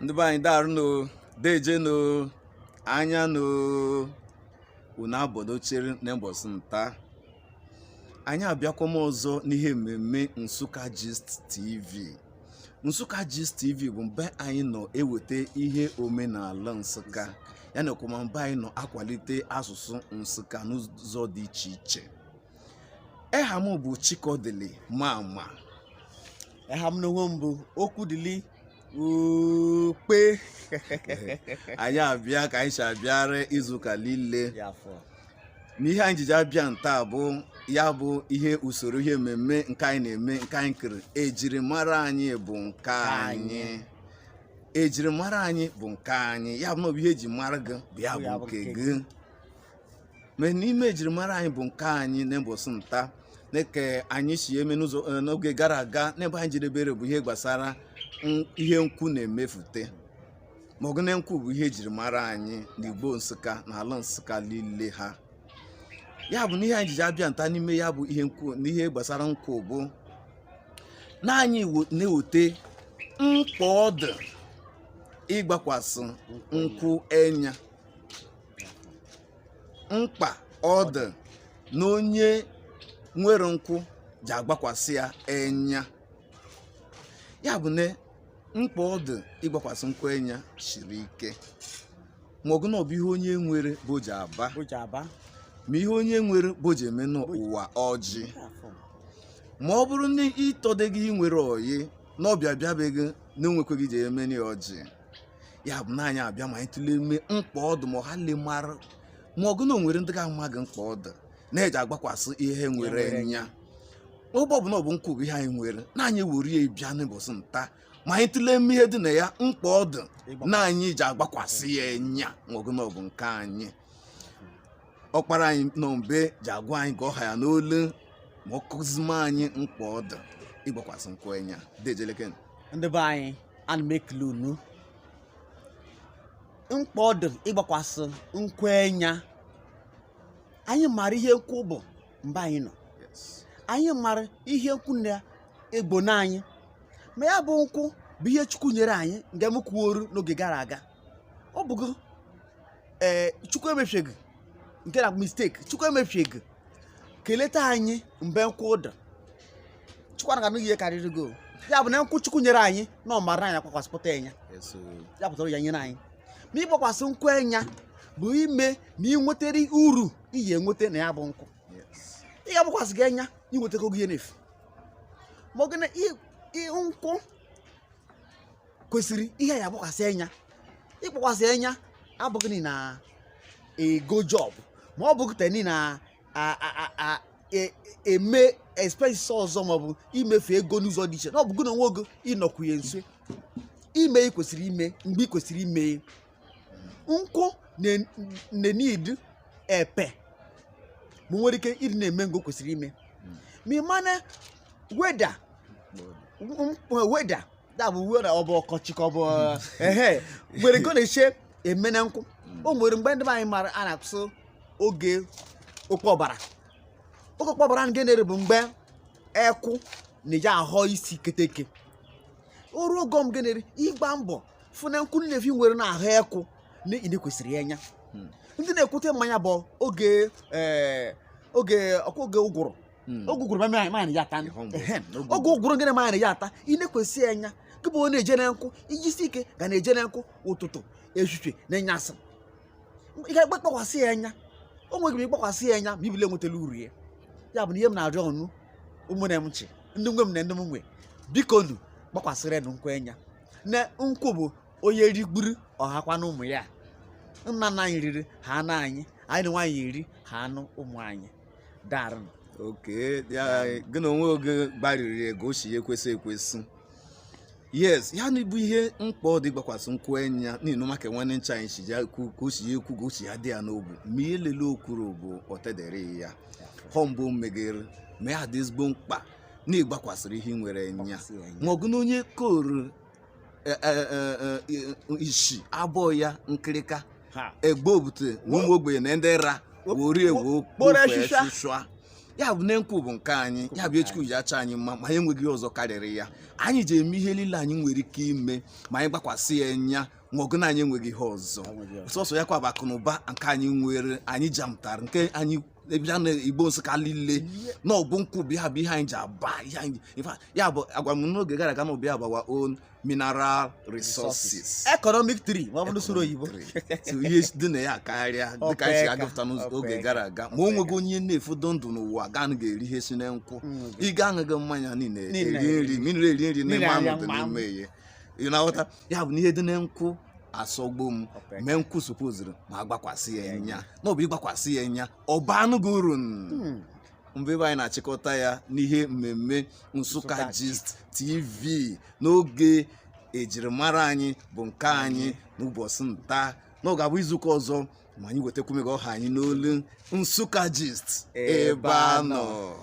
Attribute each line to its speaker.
Speaker 1: ndị be anyị daarụ no deje no anya no unu abọdochere n'ụbọchị nta anyị abịakwama ọzọ n'ihe mmemme Nsukka Gist TV Nsukka Gist TV bụ mbe anyị nọ eweta ihe omenala Nsukka ya na kwama mbe anyị nọ akwalite asụsụ Nsukka n'ụzọ dị iche iche eha m bụ Chikodili Mama
Speaker 2: eha m n'onwe m bụ Okwudili
Speaker 1: Ukpe anyị abịa ka anyị si abịara izuụka niile n'ihe anyị jiji abịa nta bụ ya bụ ihe usoro ihe mmemme nke anyị na-eme nke anyị kere ejirimara anyị bụ nke anyị ejirimara anyị bụ nke anyị ya bụ na ọ bụ ihe eji mara gị bụ ya bụ nke gị ma n'ime ejirimara anyị bụ nke anyị n'ụbọchị nta na-eke anyị si eme n'ụzọ eh, n'oge gara aga n'ebe anyị jedebere bụ ihe gbasara n- ihe nkwụ na-emefute ma ọgụ na nkwụ bụ ihe ejirimara anyị n'Igbo Nsukka na ala Nsukka niile ha ya bụ na ihe anyị jiji abịa nta n'ime ya bụ ihe nkwụ na ihe gbasara nkwụ bụ na anyị wo- na-eweta mkpa ọ dị ịgbakwasị nkwụ enya mkpa ọ dị na onye nwere nkwụ ji agbakwasị ya enya ya bụ na mkpa ọ dị ịgbakwasị nkwụ enya siri ike ma ọgụ na ọ bụ ihe onye nwere bụ o ji aba ma ihe onye nwere bụ o ji eme n'ụwa ọjị ma ọ bụrụ na ị tọdeghị ị nwere oyi na ọbịa bịa be gị na o nwekweghị i ji emeni ya ọjị ya bụ na anyị abịa ma anyị tụlee ime mkpa ọ dụ ma ọha le mara ma ọgụ na o nwere ndị ga-amaghị mkpa ọ dụ na-eji agbakwasị ihe nwere enya ọ bụ bụ na ọ bụ nkwụ bụ ihe anyị nwere na anyị were ya bịa n'ụbọchị nta ma anyị tụlee ime ihe dị na ya mkpa ọ dụ na anyị ji agbakwasị ya enya ma ọgụ na ọ bụ nke anyị ọkpara anyị nọ mbe ji agwa anyị ka ọ ha ya n'olu ma ọ kụzima anyị mkpa ọ dị ịgbakwasị nkwụ enya dejeleke ndị be anyị
Speaker 2: ana m ekele unu mkpa ọ dị ịgbakwasị nkwụ enya anyị mara ihe nkwụ bụ mbe anyị nọ anyị mara ihe nkwụ na-egbo na anyị ma ya bụ nkwụ bụ ihe Chukwu nyere anyị nke m kwuoru n'oge gara aga ọ bụgo ee Chukwu emefiegị nke na mistake Chukwu emefiegị keleta anyị mbe nkwụ dị Chukwu anaghị anụ ihe karịrị go ya bụ na nkwụ Chukwu nyere anyị na ọ mara anyị agbakwasịpụta enya ya pụtara ya nyere anyị ma ịgbakwasị nkwụ enya bụ ime na ị nwetere uru iyi enweta na ya bụ nkwụ ị ga-agbakwasị gị enya inwetago gị ihe n'efu ma ọgụ na nkwụ kwesịrị ihe ya agbakwasị enya ịgbakwasị enya abụghị ni na ego job ma ọ bụghị teni na e, eme expenses ọzọ maọbụ imefu ego n'ụzọ dị iche na ọ bụghị na onwe ogo ịnọkwunye nso ime ihe kwesịrị ime mgbe ị kwesịrị ime nkwụ na-need epe ma nwere ike ịdị na-eme nke ọ kwesịrị ime ma ị mana weather weather dabụ weather ọ bụ ọkọchị ka ọ bụ ehe nwere nke ọ na-eche eme na nkwụ o nwere mgbe ndị be anyị mara a na-atụ oge okpe ọbara oge okpe ọbara nke na-ere bụ mgbe ekwụ na-eji ahọ isi keteke oru ogo m genere ịgba mbọ fụ na nkwụ nnefi nwere na ahụ ekwụ na ị nekwesịrị ya enya ndị na-ekute mmanya bụ oge ee, oge ọkwa oge ụgụrụ hmm. oge ụgụrụ mmanya ya ata oge ụgụrụ gịnị mmanya ya ata ị nekwesị enya gị bụ onye na-eje na nkwụ ijisi ike ga na-eje na nkwụ ụtụtụ ehihie na ịnyasị ị ga-agbakwasị ya enya o nweghị m ịgbakwasị ya enya ma ibile nwetara uru ya ya bụ na ihe m na-arịọ ụnụ ụmụnne m ncha ndị nwe m na ndị m nwe biko nu gbakwasịrị nụ nkwụ enya na nkwụ bụ onye rigburu ọ hakwanụ ụmụ ya nna nna anyị riri hanụ anyị anyị nwa ya-eri hanụ ụmụ anyị daarụ
Speaker 1: oke ya gị na onwe oge gbariri ego o si ya ekwesị ekwesị yes ya nwa bụ ihe mkpa ọ dị ịgbakwasị nkwụ enya n'ihi maka nwanne ncha anyị si ya ekwu ka o si ya ekwu ka o si ya dị ya n'obu ma ihe lile o kwuru bụ ọtedere ya hụ mbụ megere ma ya dị ezigbo mkpa na ịgbakwasịrị ihe ị nwere enya Gbakwasị ya enya. ma ọgụ na onye koro eh, eh, eh, eh, isi abọ ya nkịrịka ha egbe obute na ụmụ ogbenye na ndị ra wori ewo kpọrọ echicha. sụsụa ya bụ na nkwụ bụ nke anyị ya bụ ihe Chukwu ji achọ anyị mma ma anyị enweghị ihe ọzọ karịrị ya anyị ji eme ihe niile anyị nwere ike ime ma anyị gbakwasị ya enya ma ọgụ na anyị enweghị ihe ọzọ sọsọ ya kwa bụ akụ na ụba nke anyị nwere anyị jamtara nke anyị bịa na Igbo Nsụka niile na ọ bụ nkwụ bụ ya bụ ihe anyị ji aba ihe anyị ya bụ agwa m n'oge gara aga na ọ bụ ya bụ our own mineral resources economic tree
Speaker 2: ma ọ bụ n'usoro oyibo ihe
Speaker 1: dị na ya karịa dịka anyị si agụpụta n'oge gara aga ma o nweghị onye na-efodo ndụ n'ụwa gaa na ga-eri ihe si na nkwụ mm. ị ga aṅụghị mmanya niile eri nri mmiri eri nri na mmanụ dị n'ime ya ị na-aghọta ya bụ na ihe dị na nkwụ asọgbu m mee nkwụ supozuru ma a gbakwasị ya enya na ọ bụ ịgbakwasị ya enya ọ baanụ gị uru hmm. ọ bụ ebe anyị na-achịkọta ya n'ihe mmemme Nsụka Gist TV n'oge ejirimara anyị bụ nke anyị n'ụbọchị nta na ọ ga-abụ izuụka ọzọ ma anyị wetakwu mega ọha anyị n'olu Nsụka Gist ebe a nọ